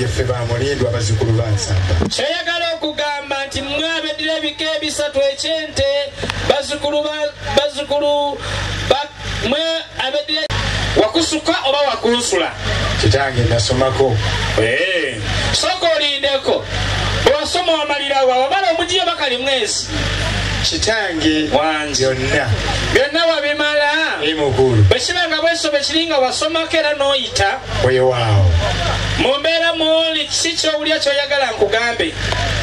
Ye ffe ba Mulindwa bazzukulu ba Nsamba. Ky'oyagala okugamba nti mmwe abeddira ebika ebisatu eky'ente bazzukulu ba bazzukulu ba mmwe abeddira wakusuka oba wakunsula kitange nasomako eh, sooka olindeko bwewasoma wamalirawa wamala omugiyo bakali mwezi kitange wange onna byonna wabimala bwe kiba nga bwesobe kiri nga wasomako era n'oyita weewaawo mu mbeera muuli kiki kyowulira kyoyagala nkugambe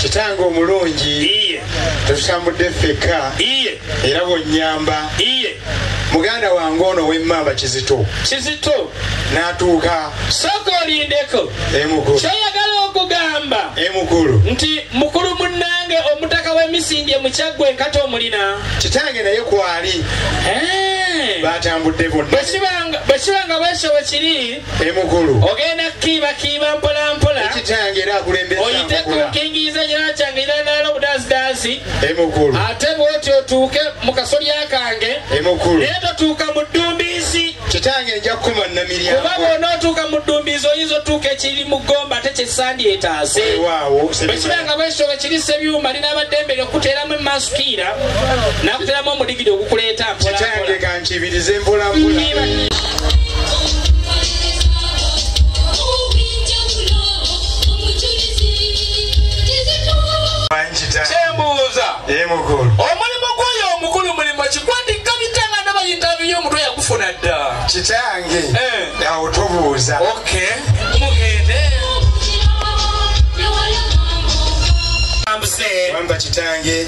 kitange omulungi iye tutambudde ffekka iye era bwonyamba iye muganda wange ono wemmamba kizito kizito n'atuuka sooka olindeko emukulu kyoyagala okugamba emukulu nti mukulu munnange omutaka w'emisindye mukyaggwa enkata omulina kitange naye kwali eh. batambudde bonna bwe kiba nga bwekyo bwe kiri emukulu ogenda kukiibakiiba mpolampola ekitange era akulembeza oyite ku nkingiiza nyana kyange era naala obudaazidaazi emukulu ate bwoti otuuke mu kasolya kange emukulu naye totuuka mu ddumbiizi kitange nja kukuma namiryango kuba bw'onootuuka mu ddumbiizi oyinza otuuka ekiri mu ggomba ate kyesandi etaase bwe kiba nga bwekyo bwe kiri sebyuma linaaba ddembe lyokuteeramu emasukiira nakuteramu omuli kitange kankibirize mpolampola omulimu gwoyo omukulu mulimu kikwatikka bitanga nabayintabi yo omutwe yakufuna dda kitange eh. awo tubuuza amba kitange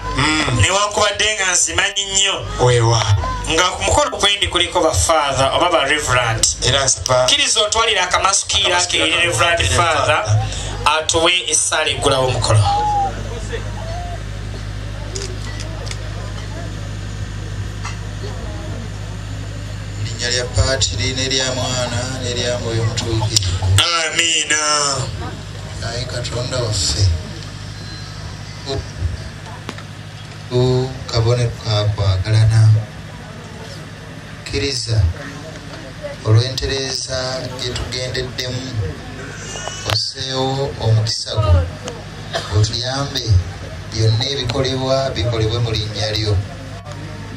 mm. newankubadde nga nzimanyi nnyo wewa nga ku mukolo kwendi kuliko bafathe oba ba reverant kiriza otwalira akamasukiira keeri reverant fathe atuwe esaala eggulawo omukolo erinnya lya paatiri nerya mwana nerya mwoyo mutuukire amiina ayi katonda waffe kabonero kakwagalana kkiriza olw'entereeza gyetugendeddemu oseewo omukisa gwo otuyambe byonna ebikolebwa bikolebwe mu linnya lyo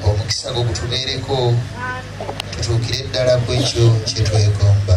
omukisa gwo gutubeereko tutuukire ddala ku ekyo kyetwegomba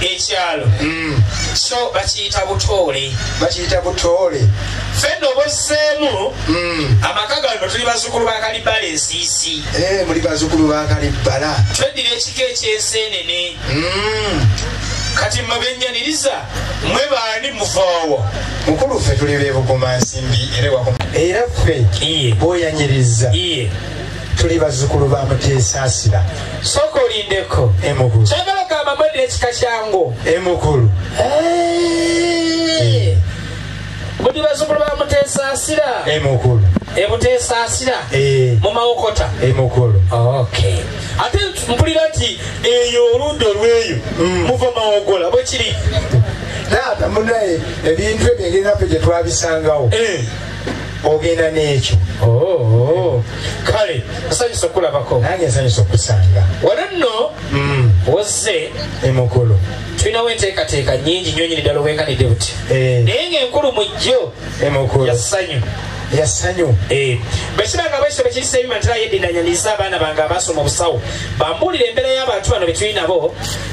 ekyalo mm. so bakiyita butoole bakiyita butoole fenna obozzeemu mm. amaka gano tuli bazukulu ba kalibbala ensiisi eh, muli bazukulu ba kalibbala tweddira ekika ekyensenene mm. kati mabenyaniriza mwe baani muvoowo mukulu ffe tuli bebuguma nsimbi era ffe bwoyanyiriza tuli bazzukulu ba muteesaasira sooka olindeko emukulu kyagala gamba mwedde ekika kyangu emukulu muli bazzukulu ba muteesaasira emukulu emuteesaasira eh. mu mawokota emukulu ate mpulira nti eyo oludda olweyo mm. muva mawogola bwekiri taata munaye ebintu ebyo engeri naffe gyetwabisangawo eh. ogenda n'ekyo oh, kale nsanyusa okulabako nange nsanyusa okusanga wano nno mm. wozze emukulu tulinawo enteekateeka nyingi nyo nyini ddala obwenkanidde buti eh. naye ngaenkulu mu jjo emukulu yasanyu yasanyu eh. bwekibanga bwekyo bwekirisa ebimatera yedinanyaniza abaana bange abasoma obusawo bambuulira embeera y'abantu bano betuli nabo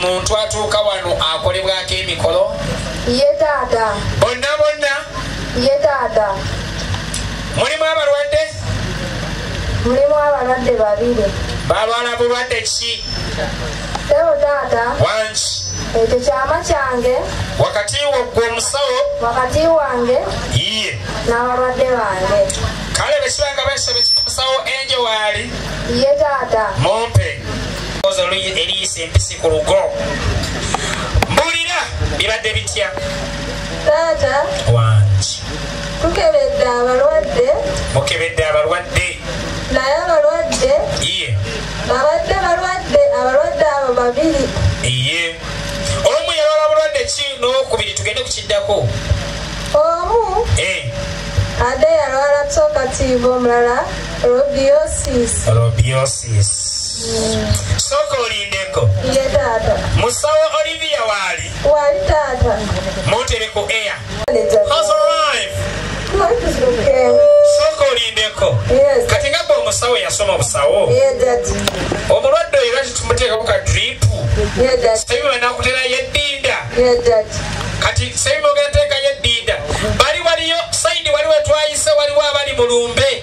muntu atuuka wano akolebwako emikolo ye taata bonna bonna ye taata mulimu abalwadde mulimu abalwadde babiri balwala bulwadde ki Sebo taata. Wangi. Ekyo kyama kyange. Wakati wo gwe omusawo. Wakati wange. Iye. N'abalwadde bange. Kale bwe kiba nga beesaba ekiri musawo enje waali. Iye taata. Mumpe. Ozo eriyisa empisi ku lugo. Mbulira bibadde bitya. Taata. Wangi. Tukebedde abalwadde. Mukebedde abalwadde. Naye abalwadde. Iye. Babadde balwadde abalwadde abo babiri. Iye. Omu yalwala bulwadde ki n'owokubiri tugende ku kiddako. Omu. Eh. Ade yalwala tokatiivu omulala robiosis. Robiosis. Mm. Sooka olindeko. Iye taata. Musawo Olivia waali. Waali taata. Muntere ku air. has arrived sooka olindeko kati nga gwe omusawo yasoma obusawo omulwadde oyo lwaki tumuteekaku ka dripu sabibu banakutera yeddinda kati sabibu ogenda teeka yeddinda bali waliyo saidi waliwo twayise waliwo abali mulumbe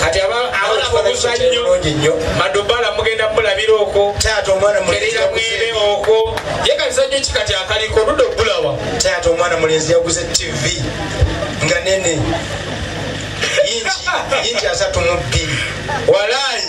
kati abaabuzannyoungi nnyo madubala mugenda mulabira okwo taata omwana muleera mwere okwo ye kazannyo ki kati akaliko luda okulawa taata omwana mulenzi yaguze tv nga nene yingi yingi asatu mu bbiri walaayi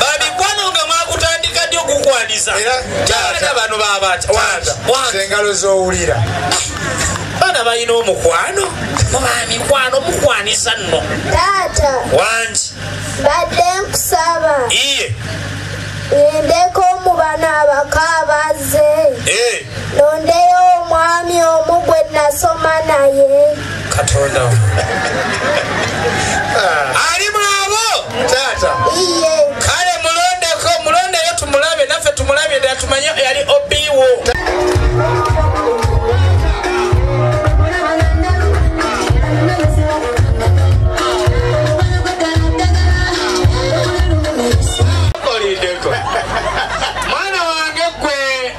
bamikwano nga mwakutandika ddi okukwaniza taata bano babatengalo zowulira bana balina omukwano mubamikwano mukwaniza nno taata wangi badde nkusaba iye ngendeko mu bano abakaabaze eh. nondeyo omwami omu gwe nasoma naye katonda ali mwabo taata kale mulondeko mulondeyo tumulabe naffe tumulabye ddala tumanye yali obiwo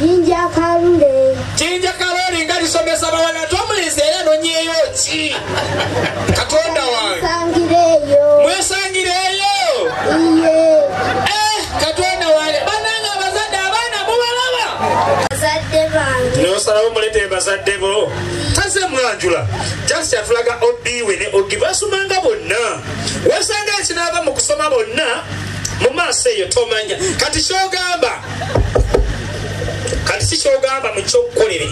Jinja Kalule. Jinja Kalule nga lisomesa bawala tomulinze era nonyeyo ki? Katonda wange. Sangireyo. Mwesangireyo. Iye. Eh, Katonda wange. Bananga bazadde abaana mubalaba. Bazadde bange. Nosalawo mulete bazadde bo. Taze mwanjula. Just yatulaga obiwe ne ogiva asumanga bonna. Wasanga ekinava mu kusoma bonna. Mu maaso eyo tomanya. Kati kyogamba. kati si kyogamba mu kyokukolere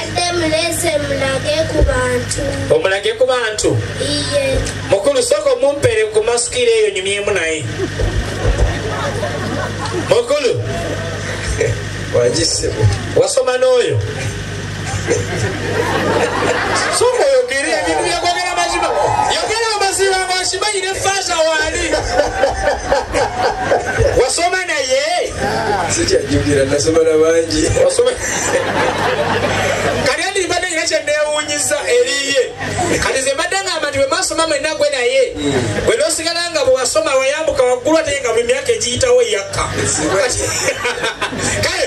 adde mulese mulage ku bantu omulage ku bantu iye mukulu soko mumpere ku masikira eyo nyumyemu naye mukulu wagisebo wasoma n'oyo soka oyogere ebintu byakwagala mazima yogera amazima ngakimanyi ne faaza waali wasoma naye sikyajjukira nasoma na bangi kati andi mbadde nyina kyenneewunyiza eriye kati ze mbadde ngamba nti bwemasoma mwena gwe naye bwe nosigala nga bwewasoma weyambuka waggulu ate nga buli myaka egiyitawo yakka kale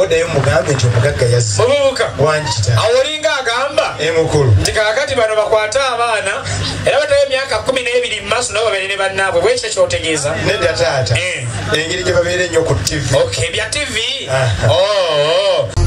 oddayo mugambe nti omugagga yazze obubuka wangita awolinga agamba emukulu nti kakati bano bakwate abaana era batayo emyaka kumi n'ebiri mu maaso nabo babeere ne bannaabwe bwekyo kyotegeeza nedda taata eh. engeri gye babeere nnyo ku tv ok bya tv oo oh, oh.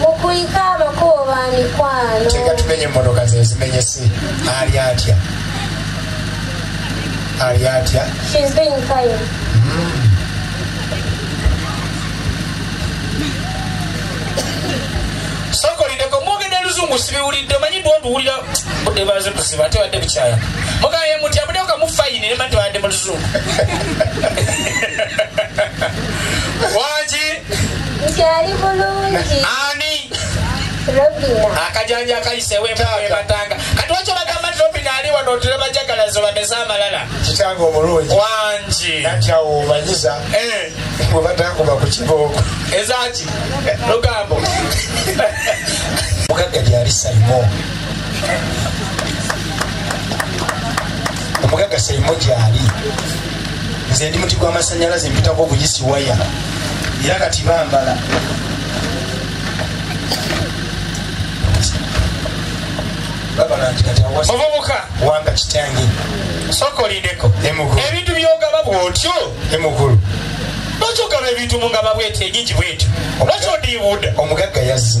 mukuyika amakubo ba mikwano tega tumenye emmotoka ze zimenyese ali atya ali atya sokolideko mwogede luzungu sibiwulidde manyi ndwonduwulira budde baze kuziba ate wadde bukyaya mugaye muti abudeoka mu fayini nema tewande mu luzungu wangi nti ali bulungi ani robina akajanja akayisewo embatanga kati wakyo bagamba nti robina ali wano otule bajagalazo bameze amalala kitange omulungi wangi nati awo omanyiza eh. bwe batakuba ku kibooko ezaki lugambo mugagga gyali salimo omugagga salimo gyali nze ndi muti gwamasanyalaze mpitako ogugisiwaya era kati bambala muvubuka wanga kitange soka olindeko ebintu byogaba bwotyo emukulu lwaki ogaba ebintu mungaba bwetyo enyingi bwetyo lwaki odiibuda omugagga yazze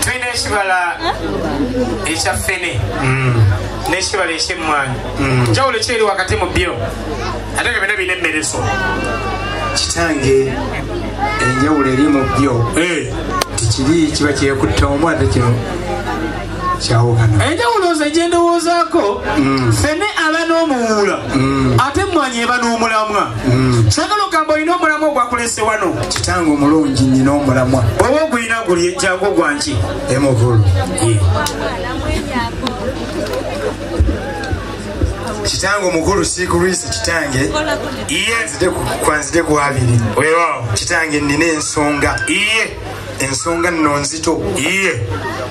tulina ekibala ekya fene mm. n'ekibala ekyemmwanyi mm. njawulo kyeri wakati mu byo ate nga byona birina emmereso kitange enjawulo eri mu byo eh. tikiri kiba kyekutta omu ate kino kyawukana enjawulo nze gyendowoozaako mm. fene aba n'omuwuula ate emmwanyi eba n'omulamwa Mm. sagala ogamba olina omulamwa ogwakulese wano kitange omulungi nyina omulamwa oba ogulina guli ejjangu ogwanki emukulu kitange omukulu sikulwisi kitange iye kwanzide kwabiri wewawo kitange nina ensonga iye ensonga nno nzito iye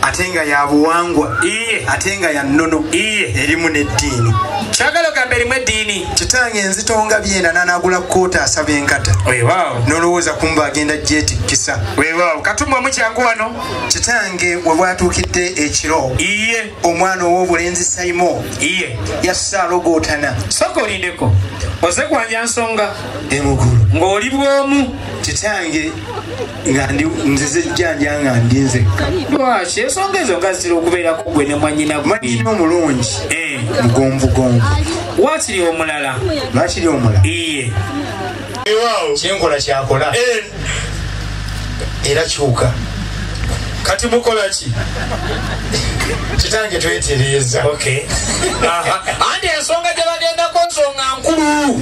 ate nga ya buwangwa iye ate nga ya nnono iye erimu n'eddiini kyagala ogamba erimu eddiini kitange nzito nga byenda nanagula koota asaba enkata wewaawo nolowooza kumba agenda gyetikkisa wewaawo katumba omukyangu wano kitange we bwatuukidde ekiro iye omwana ow'obulenzi saimo iye yassa alogootana soka olindeko oze kwanja nsonga emugulu ng'oli bwomu kitange nga ndi nzize jjanja nga ndi nzekka lwaki ensonga ezo nga zitera okubeerako gwe ne mwanyina mwanyina omulungi eh. mugonvugonvu wakiri omulala lwakiri omulala iye kyenkola kyakola eh. era kyuka kati mukola ki kitange twetereeza anti ensonga gyebagendako nsonga nkulu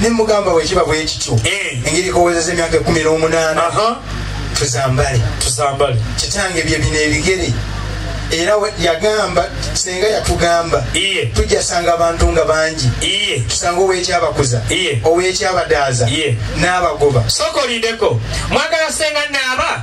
nemugamba wekiba bwekityo eh. engeri kowezeza emyaka ekumi n'omunaana tuzambale tuzambale kitange bye bino ebigere era yagamba senga yatugamba tujjasanga abantu nga bangi tusanga owekyabakuza owekyabadaaza n'abagoba sokolindeko mwagala senga naaba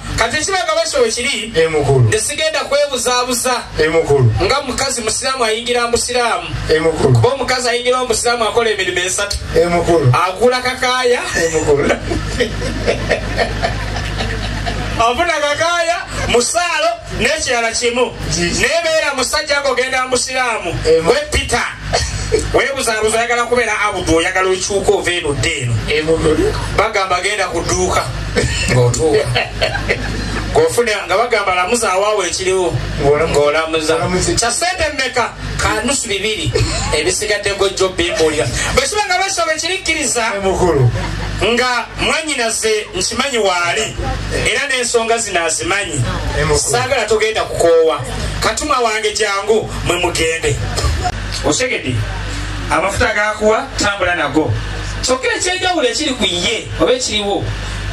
kati ekiraga basolo kiri emukulu tesigenda kwebuzabuza emukulu nga mukazi musiraamu ayingira musiraamu emukulu kuba omukazi ayingira omusiraamu akola emirimu esatu emukulu agula kakaya emukulu afuna kakaya musaalo n'ekirala kimu nebeera musajja ng'ogenda musiraamu gwe peter webuzabuza oyagala kubeera abudu oyagala okyuka ova eno dde eno bagamba genda kuduuka ngaotuuka ngofuna nga bagamba lamuza awaawo ekiriwo ngaolamuza kya sente mmeka kanusu bibiri ebisigadde gojjo bimbulira bwekiba nga basoba ekirikkiriza nga mwanyinaze nkimanyi waali era n'ensonga zino azimanyi saagala togenda kukoowa katuma wange jangu mwe mugende osegedi amafuta gakuwa tambula nago kyokka ekyenjawulo ekiri ku ye oba ekiriwo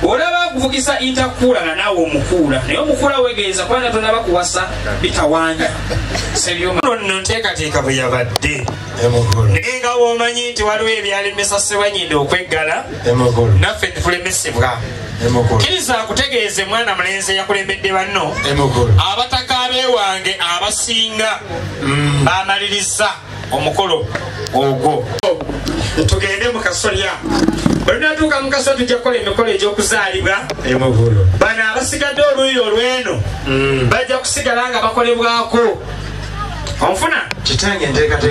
olaba akuvugisa intakuulana naawe omukuula naye omukuula wegeeza kuba natonaba kuwasa bitawanya sebyonno nteekateeka bwe yabadde naye nga womanyi nti waliwo ebyalemesa sebanyinde okweggala naffe tulemesebwa kiriza kutegeeze mwana mulenzi eyakulembedde banno abataka bewange abasinga mm. bamaliriza omukolo ogwo tugende mu kasolya olunatuuka mu kasolya tujja kukola emikolo egy'okuzaalibwa bano abasigadde oluuyi olw'eno mm. bajja kusigala nga bakolebwako onfuna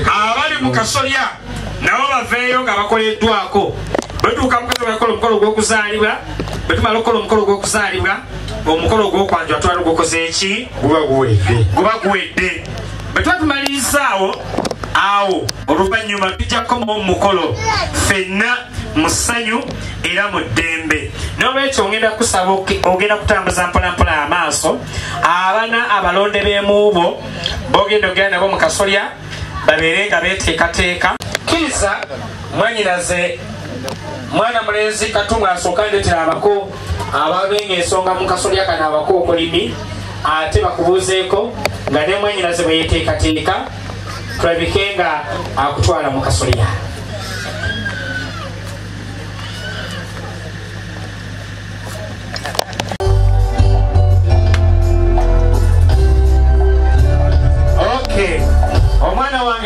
abali mu kasolya nabo baveeyo nga bakoleddwako bwetuuka mukasolyakola omukolo gw'okuzaalibwa bwetumala okukola omukolo gw'okuzaalibwa omukolo ogwokwanjula twala ogukoze eki guba guwedde bwe tuba tumalirizaawo awo oluvannyuma tujja kukomawo mu mukolo fenna mu ssanyu era mu ddembe n'olwekyo ngenda kusaba ogenda kutambuza mpolampola amaaso abana abalonde b'emuubo bogenda ogera nabo mu kasolya babeere nga beteekateeka kkiriza mwanyinaze mwana mulenzi katumwa asooka ndetera abako ababenga ensonga mu kasolya kano abakookolimi ate bakubuuzeeko nga ne mwanyinaze bwe yeteekateeka tulabike nga akutwala mu kasolya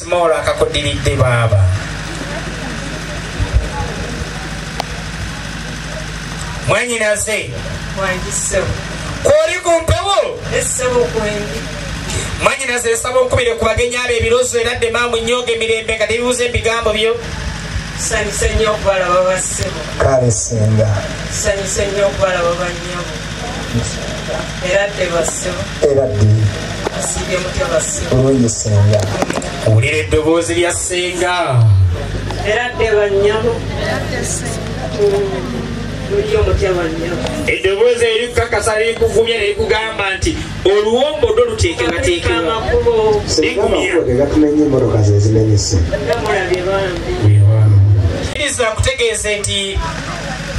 Small akakudiridde baaba. Mwanyinaze. Mwanyise. Kwoli ku mpewo. Esebo kwendi. Mwanyinaze esaba okubire ku bagenyi abo ebirozo era dde maamu nnyooga emirembe nga tebibuuza ebigambo byo. Sanyise nnyo okubalaba ba ssebo. Kale singa. Sanyise nnyo okubalaba ba nnyabo. era ddi bulungi senga wulira eddoboozi lya senga era dde bannyabo eddoboozi erikukakasa lirikuvumya nerikugamba nti oluwombo do luteekebwateekebwairiza nkutegeeze nti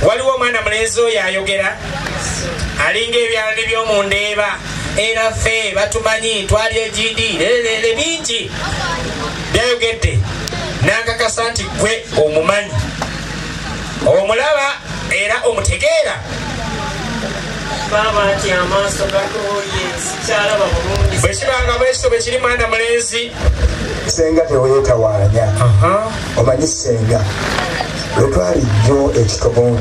waliwo omwana mulenzi oyo ayogera alinga ebyalani byomu ndeeba era ffe batumanyi twali egindi lereere bingi byayogedde nankakasa nti gwe omumanyi omulaba era omutegeera bwekibanga bwekito bwekiri mwana mulenzi senga tewetawanya omanyi senga lwetwali jjo ekitobooni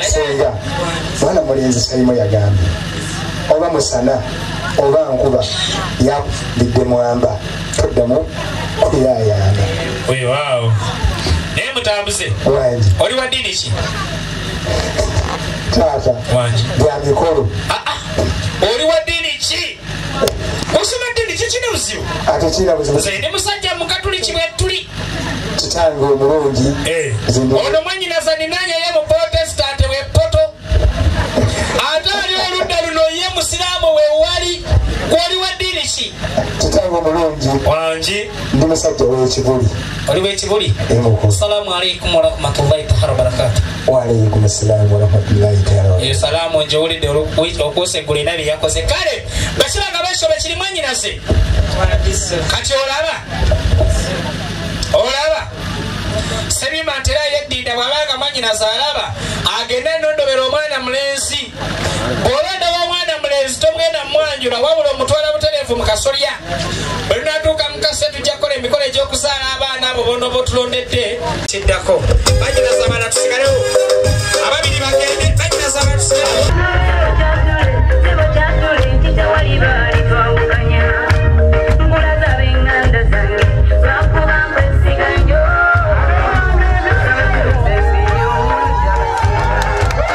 senga mwana mulenzi salimo yagambye oba musana oba nkuba yabidde mwamba toddamu kuyayana wewaawo naye mutambuze wangi oli wa ddiini ki taata wangi bya mikolo ah, ah. oli wa ddiini ki osoma ddini kikina buzibu atekina buzibu nze ndi musajja mukatuliki bwetuli kitange omulungi eh. ono mwanyinaza ninanye ye mu protestante wepoto ate ali oludda luno ye musiraamu wewali gwoli wa ddiini ki kitange omulungi wangi ndi musajja wekibuli oli wekibuli eh, salaamu aleikum warahmatullahi taala wabarakatu waalaikum salaamu warahmatullahi taala eyo salaamu njiwulidde okuuseggula ena bye yakoze kale bakiba nga besobe kiri mwanyinaze kati olaba olaba sebima ntera yeddinda bw'abanga mwanyinaze alaba agende nondobera omwana mulenzi bw'oba ndaba omwana mulenzi togenda mumwanjula wabula omutwala butereevu mu kasolya bwe lunatuuka mu kase tujja kukola emikolo egy'okuzaala abaana abo bona oba otulondedde kiddako banyinaza abaana tusigalewo ababiri bagende banyinaza abaana tusigalewo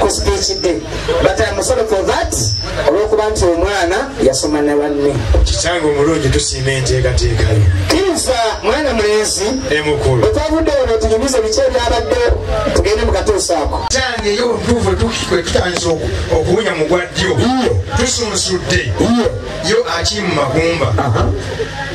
ku speech day but I'm sorry for that olwokuba nti omwana yasoma na banne kitange omulungi tusiima enteekateeka yo kiriza mwana mulenzi emukulu otwavudde ono tunyumize biki ebyabadde tugende mu katuusa ako kitange yo obutuufu tukikwe tutandisa okuwunya mu gwa ddyo tusunsudde yo akiri mu magumba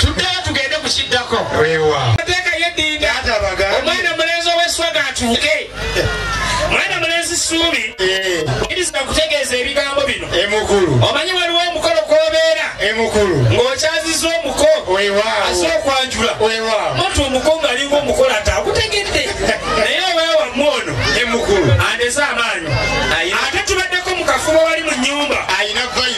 tuddeyo tugende ku kiddako mateeka yeddinda omwana mulenzi ow'eswaga atuuke mwana mulenzi suubi iriza okutegeeza ebigambo bino omanyi waliwo omukolo kwobeera ng'okyaziza omuko ase okwanjula mutu omuko ng'alinga omukolo ate agutegedde naye owewamu ono andeze amaanyi ate tubaddeko mu kafuba wali mu nyumba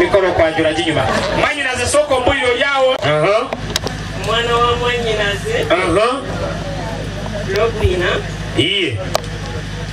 mikolo kwanjula ginyuma mwanyinaze sooka ombuliro lyawo omwana wa mwanyinaze lobina iye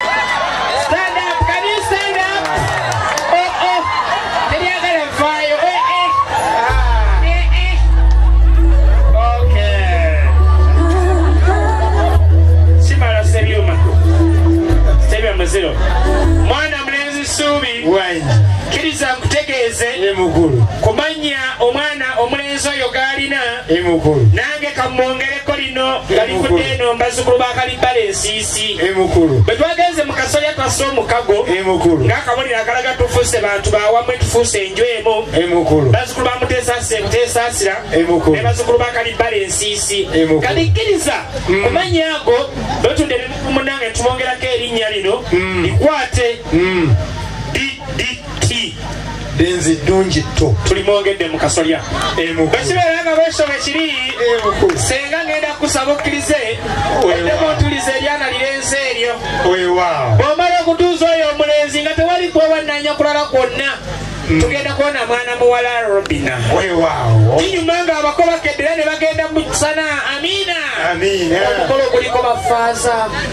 Stand up, can you stand up? Oh, oh, teryagala nfaayo, eh, eh. Ah, eh, eh. Okay. Simala Sebyuma. Sebyuma muziro. Mwana mulenzi Ssuubi. Kkiriza nkutegeeze ku mannya omwana omulenzi oyo g'alina nange kamwongereko lino nga livudde eno mbazukulu ba kalibbala ensiisi Kati emukulu bwe twagenze mu kasolya twassa omukago emukulu ng'akabonero akalaga tufuuse bantu bawamu etufuuse enju emu emukulu bazukulu ba muteesaasira emuteesaasira emukulu ne bazukulu ba kalibbala ensiisi kati kkiriza mm. kumanya ago bwetunda ebimunange tubongerako erinnya lino mm. likwate mm. ti denzi ddungi tto tuli mwongedde mu kasolya bwekibeera nga bwesoma ekiri senga ngenda kusaba okkirize eddemu otuliza eryana lirenze eryo bwomala okutuuza oyo omulenzi nga tewali kwewannanya kulala kwonna mm. tugenda kuwona mwana muwala robina kinyuma nga abako bakedera ne bagenda mu sana amina omukolo guliko bafaaza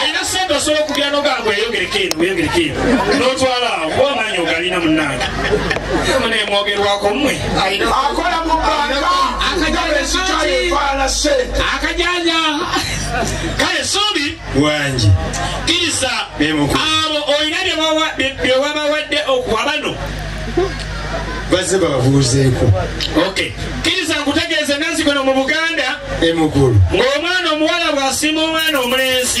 alina sente osobola okugera nogamba eyogereko eno eyogereko eno notwala awo kuba amaanyi ogalina munange munemwogerwako mwe akola mu banka akajanja kale suubi wangi kirisa abo olina byewabawadde okuwa bano bazze bababuuzeeko okay kiriza nkutegeeze nazigono mu buganda emugulu ng'omwana omuwala bw'asiima omwana omulenzi